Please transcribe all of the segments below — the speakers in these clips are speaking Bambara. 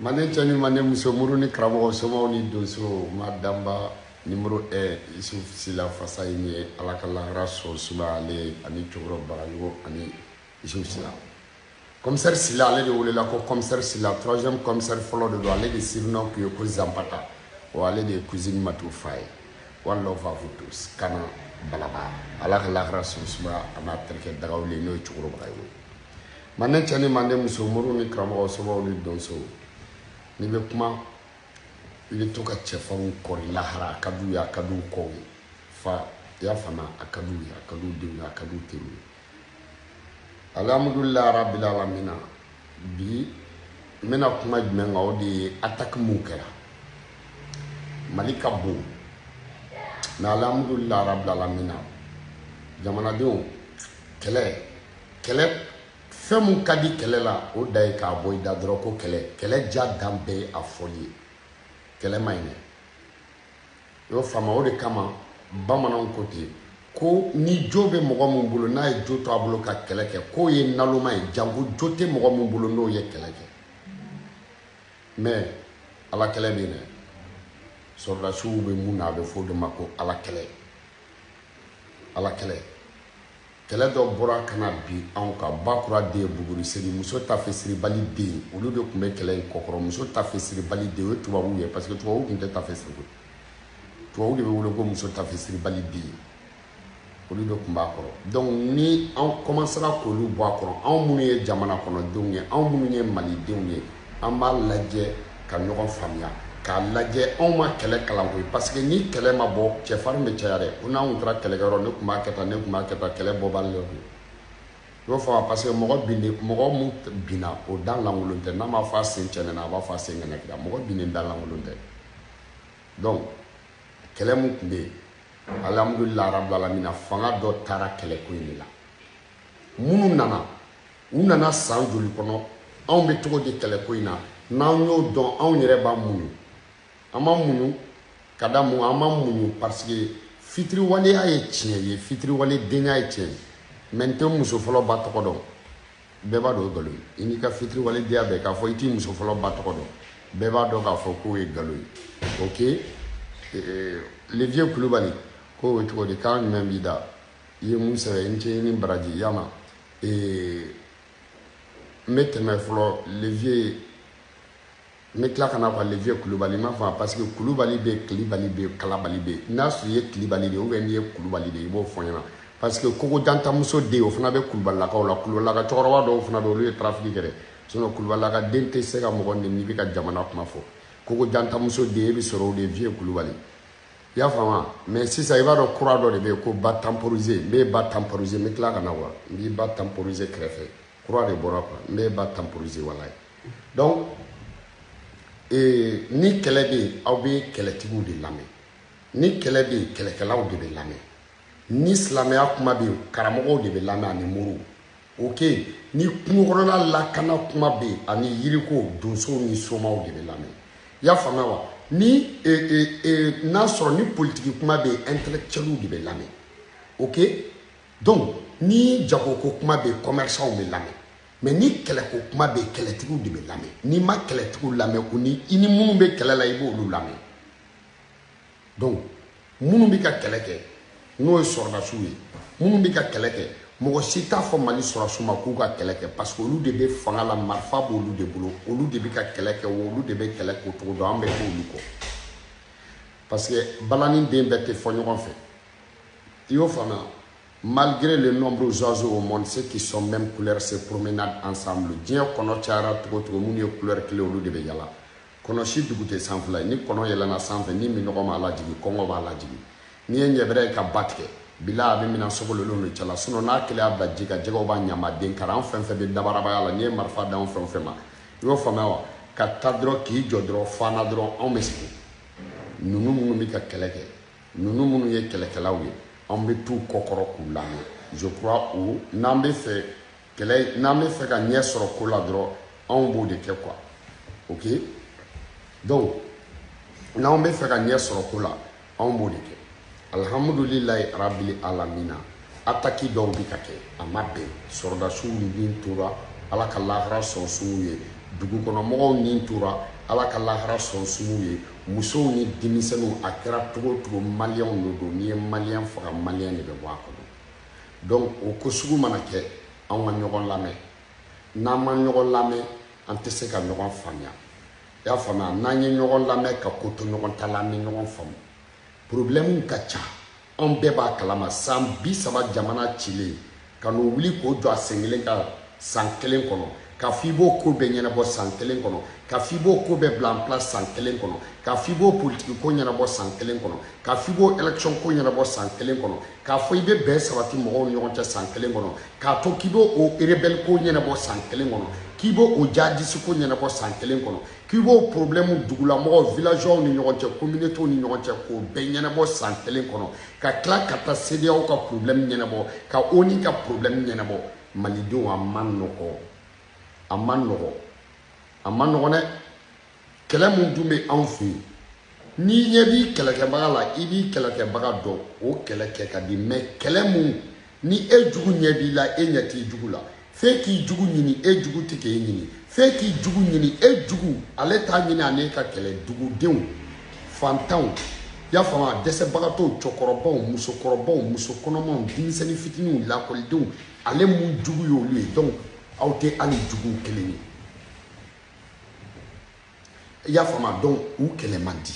manden cɛ ni manden muso mori ni karamɔgɔ somaw ni donso ma danba nimoro un yusuf sila fasa ye ye ala ka lahara so suma ale ani cɛkɔrɔba barajugu ani yusuf sila kɔmisɛri sila ale de welela ko kɔmisɛri sila troisième kɔmisɛri fɔlɔ de don ale de surnom tun ye ko zanpata wa ale de ye cousine matu fa ye one love à vous tous kana balaba ala ka lahara so suma a n'a terikɛ dagawuli n'o ye cɛkɔrɔba ye manden cɛ ni manden muso moriw ni karamɔgɔ somaw ni donsow n'i bɛ kuma i bɛ to ka cɛfarinw kɔri lahara a ka d'u ye a ka d'u kɔw ye fa i y'a faamu a ka d'u ye a ka d'u denw ye a ka d'u teriw ye alihamudulilayi arabil alamina bi n bɛna kuma jumɛn kan o de ye ataki minw kɛra mali ka bon mɛ alihamudulilayi arabil alamina jamanadenw kɛlɛ kɛlɛ fɛn min ka di kɛlɛ la o dan ye k'a bɔ i da dɔrɔn ko kɛlɛ kɛlɛ diya dan bɛɛ ye a fɔli ye kɛlɛ man ɲi dɛ i y'o faamu o de kama bamananw ko ten ko ni jo bɛ mɔgɔ min bolo n'a ye jo to a bolo ka kɛlɛ kɛ k'o ye naloma ye janko jo tɛ mɔgɔ min bolo n'o ye kɛlɛ kɛ mɛ ala kɛlɛ bɛ yen dɛ sɔrɔdasiw bɛ mun na a bɛ fɔ o de ma ko ala kɛlɛ ala kɛlɛ Kɛlɛ dɔ bɔra ka na bin anw kan ba kura den buguri seri muso tafe siribali den olu de tun bɛ kɛlɛ in kɔkɔrɔ muso tafe siribali den o ye tubabuw ye parce que tubabuw tun tɛ tafe siri tubabuw de bɛ wele ko muso tafe siribali den olu de tun b'a kɔrɔ donc ni anw commencera k'olu bɔ a kɔrɔ anw minnu ye jamana kɔnɔdenw ye anw minnu ye malidenw ye an b'a lajɛ ka ɲɔgɔn faamuya k'a lajɛ anw ma kɛlɛ kalan koyi parce que ni kɛlɛ ma bɔ cɛfarin bɛ caya dɛ ko n'an tun taara kɛlɛkɛyɔrɔ ne tun b'a kɛ tan ne tun b'a kɛ tan kɛlɛ bɔbali de kun y'o faamu parce que mɔgɔ binni mɔgɔ mun binna o da lankolon tɛ n'a ma fɔ a sen cɛɛnɛna a b'a fɔ a sen ŋɛnɛkira mɔgɔ binnen da lankolon tɛ donc kɛlɛ mun tun bɛ yen alihamudulilayi arabil alamina fanga dɔ taara kɛlɛko in de la minnu nana u nana san joli kɔnɔ anw bɛ cogo di kɛlɛko in na n'an y'o dɔn anw yɛrɛ b'a muɲu an ma muɲu ka da mun an ma muɲu parce que fitiriwaleya ye tiɲɛ ye fitiriwale denya ye tiɲɛ ye mɛ n tɛ muso fɔlɔ ba tɔgɔ dɔn bɛɛ b'a dɔn o ye nkalon ye i n'i ka fitiriwale denya bɛɛ k'a fɔ i t'i muso fɔlɔ ba tɔgɔ dɔn bɛɛ b'a dɔn k'a fɔ k'o ye nkalon ye ok eh, le vieux kulubali k'o ye cogo di kan jumɛn b'i da i ye mun sɛbɛn i ni ce i ni baraji yama ee n bɛ tɛmɛ fɔlɔ le vieux n bɛ tila ka na quoi le vieux kulubali n b'a fɔ parce que kulubali bɛ yen kilibali bɛ yen kalabali bɛ yen n'a sɔrɔ i ye kilibali de ye ou bien n'i ye kulubali de ye i b'o fɔ n ɲɛna parce que kogo jantamuso den o fana bɛ kulubalilakaw la kulubalilaka cɛkɔrɔba dɔw fana bɛ olu ye tarafiki kɛ dɛ sinɔn kulubalilaka den tɛ se ka mɔgɔ nɛni n'i bɛ ka jamana kuma fɔ kogo jantamuso den e bɛ sɔrɔ o le vieux kulubali i y'a faamu mais sisan i b'a dɔn kura dɔ de bɛ yen ko ba tanporise n b'i ba tanporise n bɛ tila ka na wa n b'i ba tanporise kɛrɛfɛ kura de bɔra quoi n b'i ba tanporise walayi donc ee, ni kɛlɛ bɛ yen aw bɛ kɛlɛtigiw de lamɛn ni kɛlɛ bɛ yen kɛlɛkɛlaw de bɛ lamɛn ni silamɛya kuma bɛ yen karamɔgɔw de bɛ lamɛn ani moriw ok ni kungokɔnɔla lakana kuma bɛ yen ani yiriko donsow ni somaw de bɛ lamɛn i y'a faamuya wa ni e, e, e, n'a sɔrɔ ni politiki kuma bɛ yen intellectuels de bɛ lamɛn ok donc ni jagoko kuma bɛ yen commerçants bɛ lamɛn mais ni kɛlɛko kuma bɛ yen kɛlɛtigiw de bɛ lamɛn n'i ma kɛlɛtigiw lamɛn u ni i ni minnu bɛ kɛlɛ la i b'olu lamɛn donc minnu bɛ ka kɛlɛ kɛ n'o ye sɔrɔdasiw ye minnu bɛ ka kɛlɛ kɛ mɔgɔ si t'a fɔ mali sɔrɔdasiw ma k'u ka kɛlɛ kɛ parce que olu de bɛ fanga la marifa b'olu de bolo olu de bɛ ka kɛlɛ kɛ wa olu de bɛ kɛlɛ kɛcogo dɔn an bɛ k'olu kɔ parce que balani den bɛɛ tɛ fɔ ɲɔgɔn fɛ i y'o faamuya malgré le nombre d'oiseaux au monde ceux qui sont même couleur se promenade ensemble diɲɛ kɔnɔ cayara cogo cogo minnu ye couleur kelen olu de bɛ yala kɔnɔ sidugu tɛ sanfɛla ye ni kɔnɔ yɛlɛnna sanfɛ ni minɔgɔ m'a lajigin kɔngɔ b'a lajigin n'i ye ɲɛbɛrɛ ye ka ba tigɛ bila a bɛ minan sogolonw de cɛla sinɔn n'a kelen y'a bila ji kan jɛgɛw b'a ɲama den karan fɛn fɛn bɛ dabarabaya la n'i ye marifa dan fɛn fɛn ma i y'o faamuya wa ka ta dɔrɔn k'i jɔ dɔrɔn fana dɔrɔn anw bɛ sigi ninnu minnu bɛ ka kɛlɛ kɛ ninnu minnu ye kɛlɛkɛlaw ye anw bɛ t'u kɔkɔrɔ k'u lamɛn je crois u n'an bɛ fɛ kɛlɛ n'an bɛ fɛ ka ɲɛ sɔrɔ ko la dɔrɔn anw b'o de kɛ quoi ok donc n'anw bɛ fɛ ka ɲɛ sɔrɔ ko la anw b'o de kɛ alihamudulilayi arabili alamina ataki dɔw bɛ ka kɛ a ma bɛn sɔrɔdasiw ni tora ala ka lahara so sum'u ye dugukɔnɔmɔgɔw ni tora ala ka lahara so sum'u ye musow ni denmisɛnninw a kɛra cogo o cogo maliyɛnw de don n'i ye maliyɛn faga maliyɛn de bɛ bɔ a kɔnɔ donc o ko sugu mana kɛ anw ka ɲɔgɔn lamɛn n'an ma ɲɔgɔn lamɛn an tɛ se ka ɲɔgɔn faamuya i y'a faamuya n'an ye ɲɔgɔn lamɛn ka ko to ɲɔgɔn ta la an bɛ ɲɔgɔn faamu problɛmu ka ca anw bɛɛ b'a kalama san bi saba jamana cilen ka n'o wuli k'o jɔ a sen kelen kan san kelen kɔnɔ k'a fɔ i b'o ko bɛɛ ɲɛnabɔ san kelen kɔnɔ k'a fɔ i b'o ko bɛɛ bila en place san kelen kɔnɔ k'a fɔ i b'o politiki ko ɲɛnabɔ san kelen kɔnɔ k'a fɔ i b'o élection ko ɲɛnabɔ san kelen kɔnɔ k'a fɔ i bɛ bɛn sabati mɔgɔw ni ɲɔgɔn cɛ san kelen kɔnɔ k'a to k'i bɛ o rebelle ko ɲɛnabɔ san kelen kɔnɔ k'i bɛ o jadisi ko ɲɛnabɔ san kelen kɔnɔ k'i b'o problème dugulamɔgɔw villageois ni ɲɔgɔn cɛ communauté ni ɲɔgɔn cɛ k'o bɛɛ ɲɛnabɔ san kelen kɔnɔ ka tila ka taa CEDEAO ka problème ɲɛnabɔ ka ONU ka problème ɲɛnabɔ malidenw a ma nɔgɔ a ma nɔgɔ a ma nɔgɔ dɛ kɛlɛ mun dun bɛ anw fɛ yen n'i ɲɛ b'i kɛlɛkɛbaga la i b'i kɛlɛkɛbaga dɔn o kɛlɛ kɛ ka di mais kɛlɛ mun ni e jugu ɲɛ b'i la e ɲɛ t'i jugu la f'e k'i jugu ɲini e jugu tɛ k'e ɲini f'e k'i jugu ɲini e jugu ale t'a ɲini a ni e ka kɛlɛ dugudenw fantanw y'a faamu dɛsɛbagatɔw cɛkɔrɔbaw musokɔrɔbaw muso kɔnɔmaw denmisɛnnin fitininw lakɔlidenw ale mun jugu y'olu ye donc aw tɛ hali juguw kelen ye i y'a faamu donc u kɛlɛ man di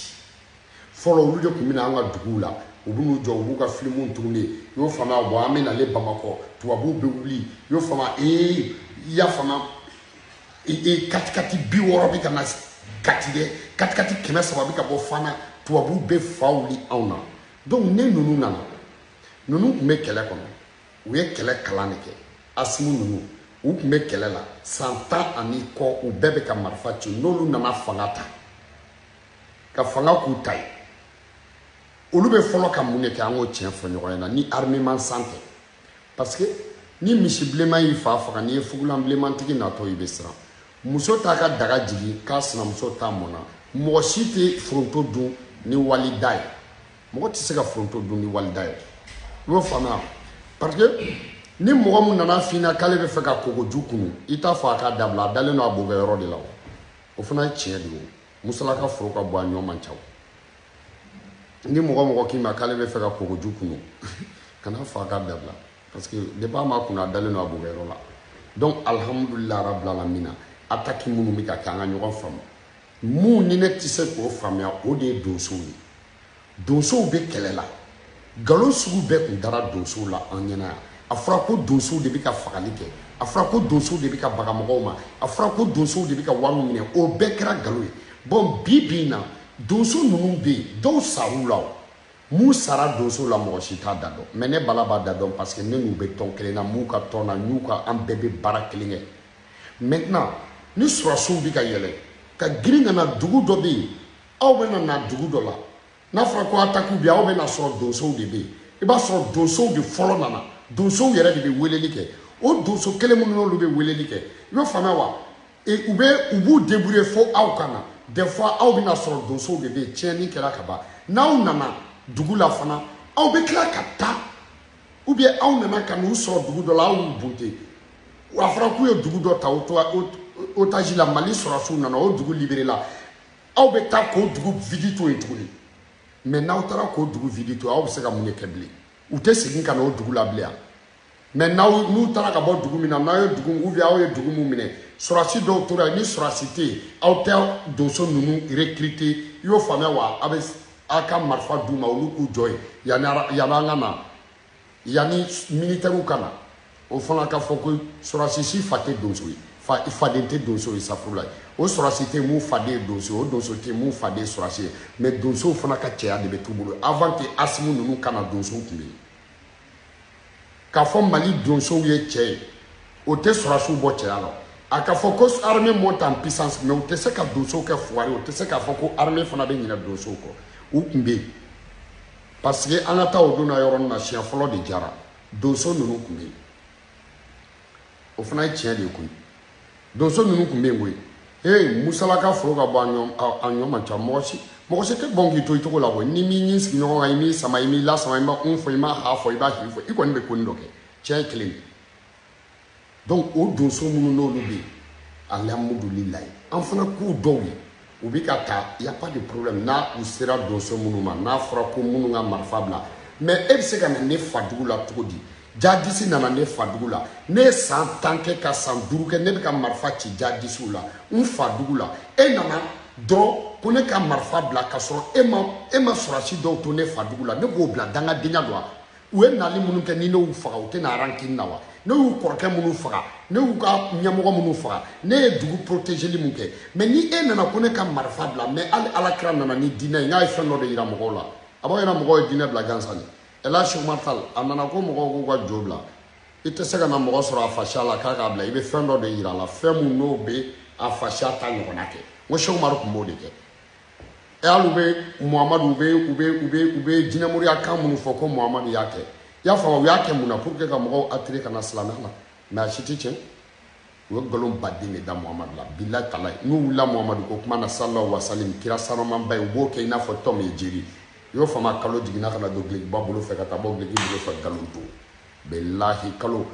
fɔlɔ olu de tun bɛ na an ka duguw la u bɛ n'u jɔ u b'u ka filimuw tourner i y'o faamu bon an bɛ nale bamakɔ tubabuw bɛ wuli i y'o faamu ee i y'a faamu ee katikati bi wɔɔrɔ bɛ ka na kati dɛ katikati kɛmɛ saba bɛ ka bɔ fana tubabuw bɛ fa wuli anw na donc ne ninnu nana ninnu tun bɛ kɛlɛ kɔnɔ u ye kɛlɛ kalan de kɛ asimi ninnu u tun bɛ kɛlɛ la san tan ani kɔ u bɛɛ bɛ ka marifa ci n'olu nana fanga ta ka fanga k'u ta ye olu bɛ fɔlɔ ka mun de kɛ an k'o tiɲɛ fɔ ɲɔgɔn ɲɛna ni armement san tɛ parce que ni misi bilenman y'i fa faga n'i ye fugulan bilenmantigi natɔ i bɛ siran muso t'a ka daga jigin k'a sinamuso ta mɔna mɔgɔ si tɛ foronto dun ni wali da ye mɔgɔ tɛ se ka foronto dun ni wali da ye i y'o faamuya parce que ni mɔgɔ min nana f'i na k'ale bɛ fɛ ka kogoju kunu i t'a fɔ a k'a dabila a dalen don a bokɛyɔrɔ de la o o fana ye tiɲɛ de ye o musalaka foro ka bon a ɲɔ man ca o ni mɔgɔ mɔgɔ k'i ma k'ale bɛ fɛ ka kogoju kunu kana fɔ a k'a dabila parce que depuis a m'a kunu a dalen don a bokɛyɔrɔ la donc alhamdulila rabbil alamina attaque minnu bɛ ka kɛ an ka ɲɔgɔn faamu mun ni ne tɛ se k'o faamuya o de ye donsow ye donsow bɛ kɛlɛ la nkalon sugu bɛɛ tun dara donsow la an ɲɛna yan a fɔra ko donsow de bɛ ka fagali kɛ a fɔra ko donsow de bɛ ka baga mɔgɔw ma a fɔra ko donsow de bɛ ka wariw minɛ o bɛɛ kɛra nkalon ye bon bi bi in na donso ninnu bɛ yen dɔw sar'u la o mun sara donsow la mɔgɔ si t'a da dɔn mais ne bala b'a da dɔn parce que ne n'u bɛ tɔn kelen na n b'u ka tɔn na n'u ka an bɛɛ bɛ baara kelen kɛ maintenant ni surasiw bɛ ka yɛlɛ ka girin ka na dugu dɔ bɛ yen aw bɛna na dugu dɔ la n'a fɔra ko atakiw bɛ yen aw bɛna sɔrɔ donsow de bɛ yen i b'a sɔrɔ donsow de fɔlɔ nana donsow yɛrɛ de bɛ weleli kɛ o donso kelen minnu n'olu bɛ weleli kɛ i bɛ faamuya wa u bɛ u b'u debrouiller fo aw ka na des fois aw bɛna sɔrɔ donsow de bɛ yen tiɲɛni kɛra ka ban n'aw nana dugu la fana aw bɛ tila ka taa ou bien aw nana ka n'u sɔrɔ dugu dɔ la aw y'u bonte a fɔra k'u ye dugu dɔ ta otage la mali sɔrɔsiw nana o dugu libere la aw bɛ taa k'o dugu vidi to yen tuguni mɛ n'aw taara k'o dugu vidi to aw bɛ se ka mun de kɛ bilen u tɛ segin ka na o dugu la bilen yan mɛ n'aw n'u taara ka bɔ dugu min na n'aw ye dugu ou bien aw ye dugu min minɛ sɔrɔsi dɔw tora yen ni sɔrɔsi tɛ yen aw tɛ donso ninnu recruter i y'o faamuya wa aw bɛ aw ka marifa d'u ma olu k'u jɔ yen yanni yanni an ka na yanni militɛriw ka na o fana ka fɔ ko sɔrɔsi si fa tɛ donso ye fa faden tɛ donso ye safurula ye o sɔrɔsi tɛ mun faden ye donso ye o donso tɛ mun faden ye sɔrɔsi ye mɛ donsow fana ka cɛya de bɛ t'u bolo avant que asimi ninnu ka na donsow tun bɛ yen k'a fɔ mali donsow ye cɛ ye o tɛ sɔrɔsiw bɔ cɛya la a ka fɔ ko armée monte en puissance mɛ o tɛ se ka donsow kɛ fugari o tɛ se k'a fɔ ko armée fana bɛ ɲinɛ donsow kɔ u tun bɛ yen parce que an ka taa o donna yɔrɔnin na siɲɛ fɔlɔ de jara donso ninnu tun bɛ yen o fana ye tiɲɛ de ye koyi donso ninnu tun bɛ yen koyi ee musalaka foro ka bon a ɲɔ man ca mɔgɔ si mɔgɔ si tɛ bon k'i to i cogo la koyi n'i m'i ɲin sigi ɲɔgɔn kan i m'i sama i m'i lasama i ma un fɔ i ma ha fɔ i b'a hi fɔ i kɔni bɛ konin dɔ kɛ tiɲɛ ye kelen ye donc o donso minnu n'olu bɛ yen alihamudulilayi an fana k'u dɔw ye u bɛ ka taa y a pas de problème n'aw sera donso minnu ma n'a fɔra ko minnu ka marifa bila mais e bɛ se ka na ne fadugu la cogo di jadisi nana ne fadugu la ne ye san tan kɛ ka san duuru kɛ ne bɛ ka marifa ci jadisiw la n fadugu la e nana dɔrɔn ko ne ka marifa bila k'a sɔrɔ e ma e ma sɔrɔsi dɔw to ne fadugu la ne b'o bila dangadenya don wa u ye nali minnu kɛ ni ne y'u faga u tɛ na a rankini na wa ne y'u kɔrɔkɛ minnu faga ne y'u ka ɲɛmɔgɔ minnu faga ne ye dugu protégeli min kɛ mɛ ni e nana ko ne ka marifa bila mɛ hali ala kira nana ni diinɛ ye n k'a ye fɛn dɔ de yira mɔgɔw la a b'a yira mɔgɔw ye diinɛ bila gansan de ɛlaji umaru tal a nana ko mɔgɔw k'u ka jo bila i tɛ se ka na mɔgɔ sɔrɔ a fasiya la k'a k'a bila i bɛ fɛn dɔ de yira a la fɛn min n'o bɛ a fasiya ta ɲɔgɔnna kɛ n ko sɛku umaru tun b'o de kɛ e hali u bɛ muhamadu u bɛ u bɛ u bɛ u bɛ jinɛmoriya kan minnu fɔ ko muhamadu y'a kɛ i y'a faamu u y'a kɛ mun na pour que ka mɔgɔw attirer ka na silamɛya la mais a si tɛ tiɲɛ u ye nkalon baden de da muhamadu la bilahi talahi n'u wulila muhamadu ko kuma na sallahu wasalim kira sanumanba ye u b'o kɛ i n'a fɔ tom et jerry i y'o faamu kalo jiginna ka na don dulokiba bolo fɛ ka taa bɔ duloki bolo fɛ nkalon don bilahi kalo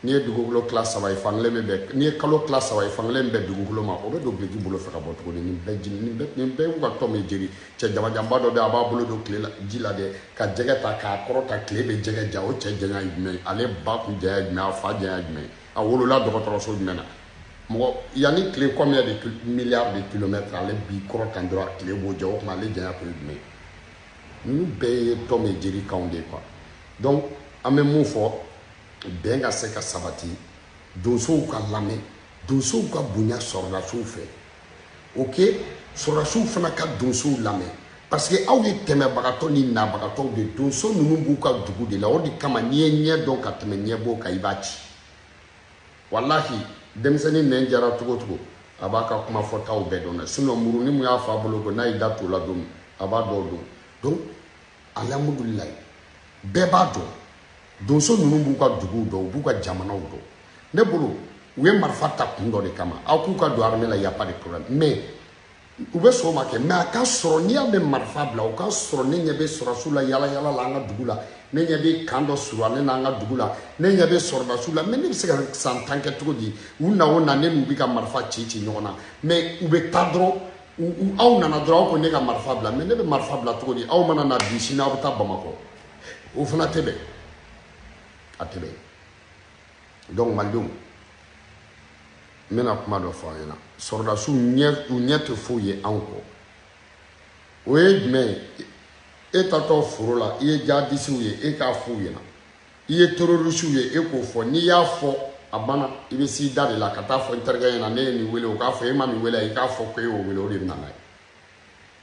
N'i ye dugukolo tila saba ye fankelen bɛ bɛn n'i ye kalo tila saba ye fankelen bɛ dugukolo ma o bɛ don duloki bolo fɛ ka bɔ tuguni nin bɛɛ jeni nin bɛɛ nin bɛɛ y'u ka Tom and Jerry cɛ jamanjanba dɔ bɛ a b'a bolo don tile la ji la dɛ ka jɛgɛ ta k'a kɔrɔta tile bɛ jɛgɛ ja o cɛ janya ye jumɛn ye ale ba kun janya ye jumɛn a fa janya ye jumɛn a wolola dɔgɔtɔrɔso jumɛn na mɔgɔ yan ni tile combien de milliards de kilomètres ale b'i kɔrɔta dɔrɔn tile b'o ja o tuma ale janya kun ye jumɛn ye ninnu bɛɛ ye Tom and Jerry kanw de ye quoi donc an bɛ mun fɔ bɛn ka se ka sabati donsow ka lamɛn donsow ka bonya sɔrɔdasiw fɛ ok sɔrɔdasiw fana ka donsow lamɛn parce que aw ye tɛmɛbagatɔ ni nabagatɔw de donso ninnu b'u ka dugu de la o de kama n'i ye ɲɛ dɔn ka tɛmɛ ɲɛbo kan i b'a ci walahi denmisɛnnin nɛn jara cogo cogo a b'a ka kuma fɔtaw bɛɛ dɔn dɛ sinon muruni min y'a fa bolo ko n'a y'i da to la don min a b'a dɔw dɔn donc Alihamudulilayi bɛɛ b'a dɔn donso ninnu b'u ka duguw dɔn u b'u ka jamanaw dɔn ne bolo u ye marifa ta kun dɔ de kama aw k'u ka don armée la y a pas de problème mais u bɛ sɔn o ma kɛ mais a ka sɔrɔ n'i y'a mɛn marifa bila o ka sɔrɔ ne ɲɛ bɛ sɔrɔdasiw la yala yala la an ka dugu la ne ɲɛ bɛ camp dɔ surunyalen na an ka dugu la ne ɲɛ bɛ sɔrɔdasiw la mais ne bɛ se ka san tan kɛ cogo di u na o na ne n'u bɛ ka marifa ci ci ɲɔgɔn na mais u bɛ taa dɔrɔn aw nana dɔrɔn aw ko ne ka marifa bila mais ne bɛ marifa bila cogo di aw mana na bi sini aw bɛ taa Bamakɔ o fana tɛ bɛn a tɛ bɛn donc malidenw n bɛna kuma dɔ fɔ aw ɲɛna sɔrɔdasiw u ɲɛ tɛ foyi ye anw kɔ o ye jumɛn ye e taatɔ foro la i ye jadisiw ye e k'a f'u ɲɛna i ye terorisiw ye e k'o fɔ n'i y'a fɔ a banna i bɛ s'i da de la ka taa fɔ n terikɛ ɲɛna ne ye nin wele o k'a fɔ e ma nin wele i k'a fɔ ko e y'o wele o de bɛ na n'a ye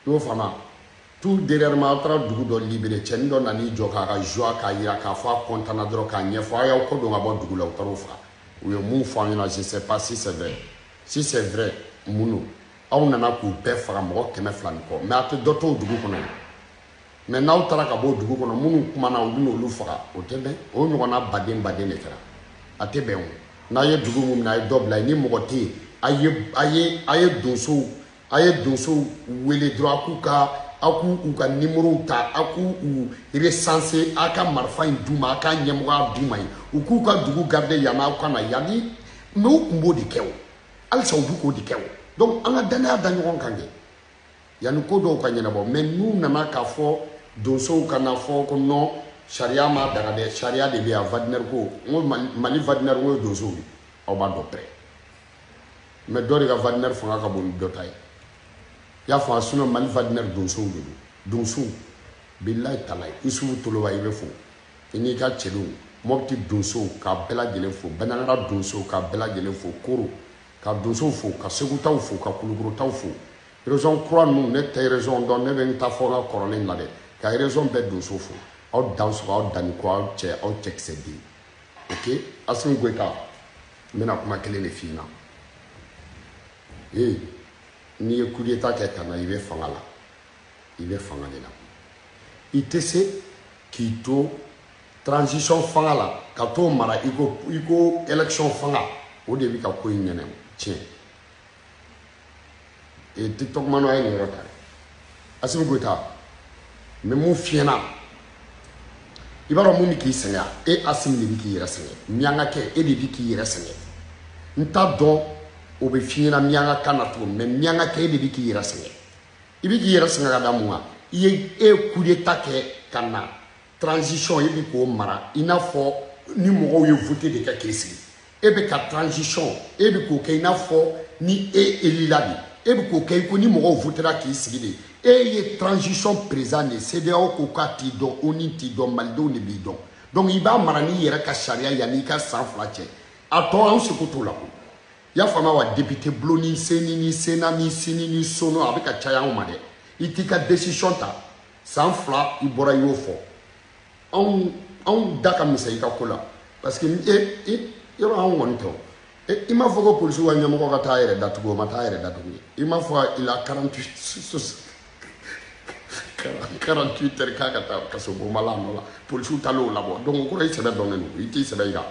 i y'o faamu tout dernièrement aw taara dugu dɔ libéré cɛnin dɔ nan'i jɔ k'a ka joie k'a jira k'a fɔ a kɔntanna dɔrɔn k'a ɲɛfɔ a y'aw kɔ don ka bɔ dugu la u taar'o faga u ye mun fɔ an ɲɛna je sais pas si c'est vrai si c'est vrai mun don aw nana k'u bɛɛ faga mɔgɔ kɛmɛ fila ni kɔ mais a tɛ dɔ to o dugu kɔnɔ mais n'aw taara ka bɔ dugu kɔnɔ minnu kumana u bɛna olu faga o tɛ bɛn o ɲɔgɔnna baden baden de kɛra a tɛ bɛn o n'a ye dugu min minɛ a ye dɔ bila yen ni mɔgɔ tɛ yen a ye a ye a ye donsow a ye donsow wele dɔrɔn a k'u ka aw k'u u ka nimorow ta aw k'u u resanse aw ka marifa in d'u ma aw ka ɲɛmɔgɔya d'u ma yen u k'u ka dugu garide yanni aw ka na yanni mais u tun b'o de kɛ o halisa u bɛ k'o de kɛ o donc an ka dannaya da ɲɔgɔn kan kɛ yanni ko dɔw ka ɲɛnabɔ mɛ n'u nana k'a fɔ donsow kana fɔ ko nɔn sariya ma daga dɛ sariya de bɛ yan Wagner ko n ko mali Wagner ko ye donsow ye aw b'a dɔn pɛrɛ mɛ dɔ de ka Wagner fanga ka bon ni dɔ ta ye i y'a fɔ a sinɔ mali Wagner donsow de don donsow bilayi talayi isufu toloba i bɛ fo i n'i ka cɛdenw mɔpiti donsow k'a bɛɛ lajɛlen fo banjagara donsow k'a bɛɛ lajɛlen fo koro ka donsow fo ka segutaw fo ka kulukorotaw fo région kura ninnu ne tɛ région dɔn ne bɛ n ta fɔ n ka kɔrɔlen na dɛ ka région bɛɛ donso fo aw dansogo aw danniko aw cɛ aw cɛkisɛ den ok Assimi Goïta n bɛna kuma kelen de f'i ɲɛna ee n'i ye coup d'état kɛ ka na i bɛ fanga la i bɛ fanga de la i tɛ se k'i to transition fanga la ka t'o mara i ko i ko élection fanga o de bɛ ka ko in ɲɛnɛ tiɲɛ ee tiktok manw a ye nin yɔrɔ ta dɛ asimi goyita n bɛ mun f'i ɲɛna i b'a dɔn mun bɛ k'i sɛgɛn e asimi de bɛ k'i yɛrɛ sɛgɛn miyankakɛ e de bɛ k'i yɛrɛ sɛgɛn n t'a dɔn o bɛ f'i ɲɛna miyankakan na cogo min miyankakɛ e de bɛ k'i yɛrɛ sɛgɛn i bɛ k'i yɛrɛ sɛgɛn ka da mun kan i ye e ye kudeta kɛ ka na transition e bɛ k'o mara i n'a fɔ ni mɔgɔw ye vote de kɛ k'i sigi e bɛ ka transition e bɛ k'o kɛ i n'a fɔ ni e elila de e bɛ k'o kɛ i ko ni mɔgɔw votera k'i sigi de e ye transition président de ye CEDEAO ko k'a t'i dɔn ONU t'i dɔn malidenw de b'i dɔn donc i b'a mara n'i yɛrɛ ka sariya yanni i ka san fila cɛ a tɔ an seko t'o la ko i y'a faamuya wa député bulon ni seni ni sena ni sini ni sono a bɛ ka caya anw ma dɛ i t'i ka décision ta san fila i bɔra i y'o fɔ anw anw da ka misɛn i ka ko la parce que e e yɔrɔ anw kɔni tɛ i m'a fɔ ko polisiw ka ɲɛmɔgɔ ka taa yɛrɛ datugu o ma taa yɛrɛ datugu ye i m'a fɔ il a 48 48 heures k'a ka taa kasobonba la nɔ la polisiw taalen o labɔ donc o kɔrɔ i sɛbɛ dɔnnen don i t'i sɛbɛ jira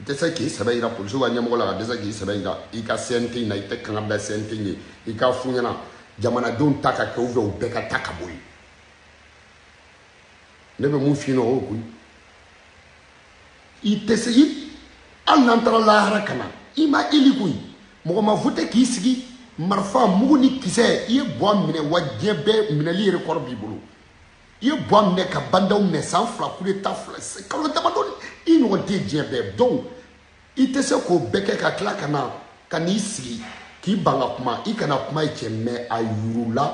tɛ se k'i sɛbɛ yira polisiw ka ɲɛmɔgɔ la ka dɛsɛ k'i sɛbɛ yira i ka cnt na i tɛ kanga bila cnt ye i k'a f'u ɲɛna jamanadenw ta ka kɛ ou bien u bɛɛ ka taa ka bɔ yen ne bɛ mun f'i ɲɛna o y'o koyi i tɛ se i hali n'an taara lahara ka na i ma eli koyi mɔgɔ ma vote k'i sigi marifa mugu ni kisɛ i ye buwa minɛ wa diɲɛ bɛɛ minɛli yɛrɛ kɔrɔ b'i bolo i ye buwa minɛ ka ba ndaw minɛ san fila kudeta fila kalo damadɔ i ɲɔgɔn tɛ diɲɛ bɛɛ donc i tɛ se k'o bɛɛ kɛ ka tila ka na ka n'i sigi k'i ban ka kuma i kana kuma ye cɛ mɛ a yurula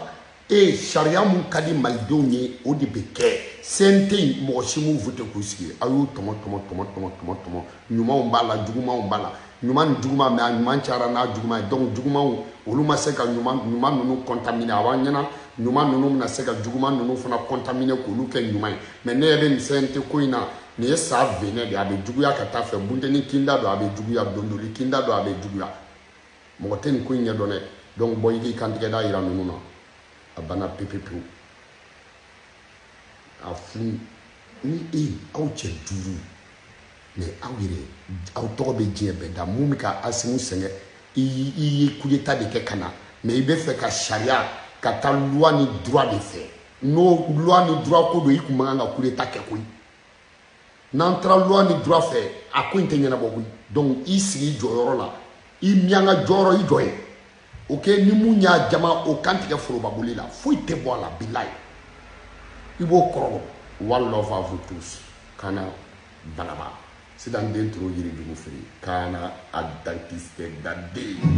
e ye sariya mun ka di malidenw ye o de bɛ kɛ cnt mɔgɔ si m'u vote k'u sigi a y'u tɔmɔ tɔmɔ tɔmɔ tɔmɔ tɔmɔ tɔmɔ ɲumanw b'a la jugumanw b'a la ɲuman ni juguman mais a ɲuman cayara n'a juguman ye donc jugumanw olu ma se ka ɲuman ɲuman ninnu contaminer a b'an ɲɛna ɲuman ninnu bɛna se ka juguman ninnu fana contaminer k'olu kɛ ɲuman ye mais ne yɛrɛ nin CNT ko in na nin ye sa venin de a bɛ juguya ka taa fɛ bunteni kinda don a bɛ juguya dondoli kinda don a bɛ juguya mɔgɔ tɛ nin ko in ɲɛdɔn dɛ donc bɔ i k'i kantigɛda yira ninnu na a banna pepepewu a furu ni e aw cɛ duuru mais aw yɛrɛ aw tɔgɔ bɛ diɲɛ bɛɛ da mun bɛ ka Assimi sɛgɛn i ye coup d'état de kɛ ka na mais i bɛ fɛ ka sariya ka taa loi ni droit de fɛ n'o loi ni droit ko don i tun man kan ka coup d'état kɛ koyi n'an taara loi ni droit fɛ a ko in tɛ ɲɛnabɔ koyi donc i sigi i jɔyɔrɔ la i miyanka jɔyɔrɔ i jɔ ye o kɛ ni mun y'a jama o kan tigɛ forobaboli la foyi tɛ bɔ a la bilayi i b'o kɔrɔ dɔn one love à vous tous kana banaba sidan den toro yirijugu fili kana a dentiste daden